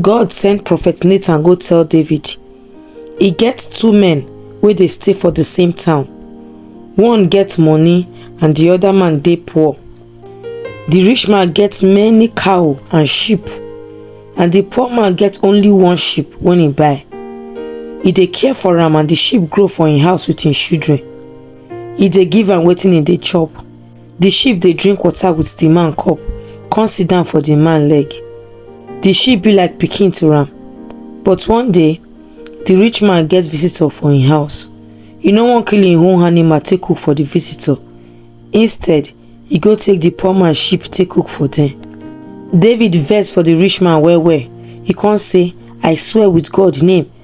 God send prophet Nathan go tell David, e get two men wey dey stay for the same town. One get money and the other man dey poor. The rich man get many cow and sheep and the poor man get only one sheep when he buy. He dey care for am and the sheep grow for him house with him children. He dey give am wetin he dey chop. Di sheep dey drink water with di man cup, con sit down for di man leg. Di sheep be like pikin to am. But one day, di rich man get visitor for im house. E no wan kill im own animal take cook for di visitor. Instead, e go take di poor man sheep take cook for dem. David vex for di rich man well well, e con say, I swear with God name!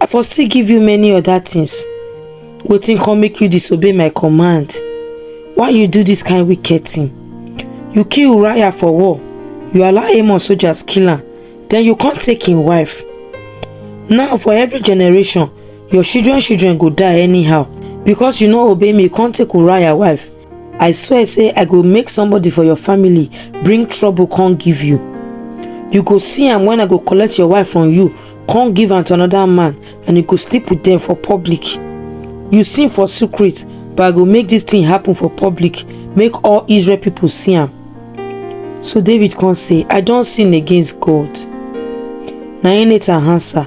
i for still give you many other things wetin come make you disobey my command why you do this kind wicked thing you kill uriah for war you allow amon soldiers kill am then you come take him wife now for every generation your children children go die anyhow because you no obey me come take uriah wife i swear say i go make somebody for your family bring trouble come give you you go see am when i go collect your wife from you come give am to another man and you go sleep with them for public you sin for secret but i go make this thing happen for public make all israel people see am so david come say i don sin against god na him nathan answer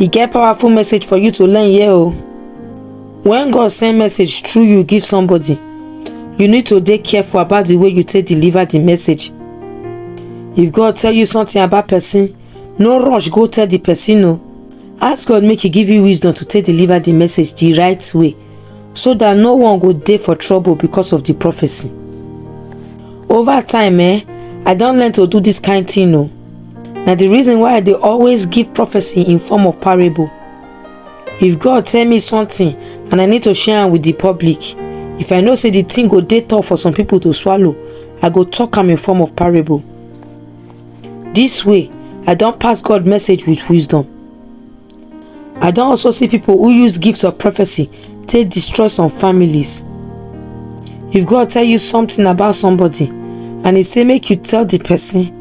E get powerful message for you to learn here o. When God send message through you give somebody, you need to dey careful about the way you take deliver the message. If God tell you something about person, no rush go tell the person o. Ask God make e give you wisdom to take deliver the message the right way. so that no one go dey for trouble because of the prophecy. Over time, eh, I don learn to do this kind thing o. Na the reason why I dey always give prophecy in form of parable. If God tell me something and I need to share am with the public, if I know say the thing go dey tough for some people to swallow, I go talk am in form of parable. This way, I don pass God message with wisdom. I don also see people who use gifts of prophecy take destroy some families. If God tell you something about somebody and he say make you tell the person,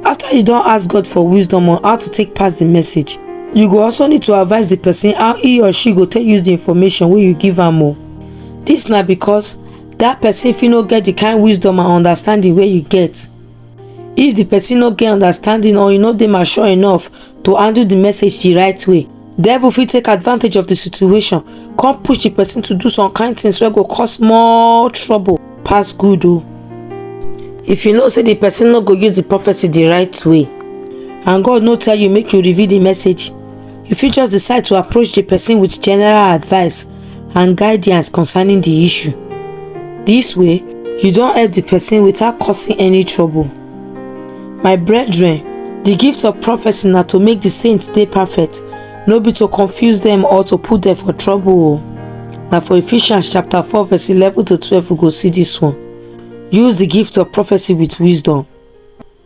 after you don ask God for wisdom on how to take pass the message, you go also need to advise the person how he or she go take use the information wey you give am o. This na because that person fit no get the kind wisdom and understanding wey you get. if di pesin no get understanding or e no dey mature enough to handle di message di right way devil fit take advantage of di situation come push di pesin to do some kind things wey go cause more trouble pass good o if you know say di pesin no go use di prophecy di right way and god no tell you make you reveal di message you fit just decide to approach di pesin with general advice and guidance concerning the issue. This way, you don't help the person without causing any trouble. My brethren, the gift of prophecy na to make the saints dey perfect, no be to confuse them or to put them for trouble o. Na for Ephesians chapter 4 verse 11 to 12 we go see this one. Use the gift of prophecy with wisdom.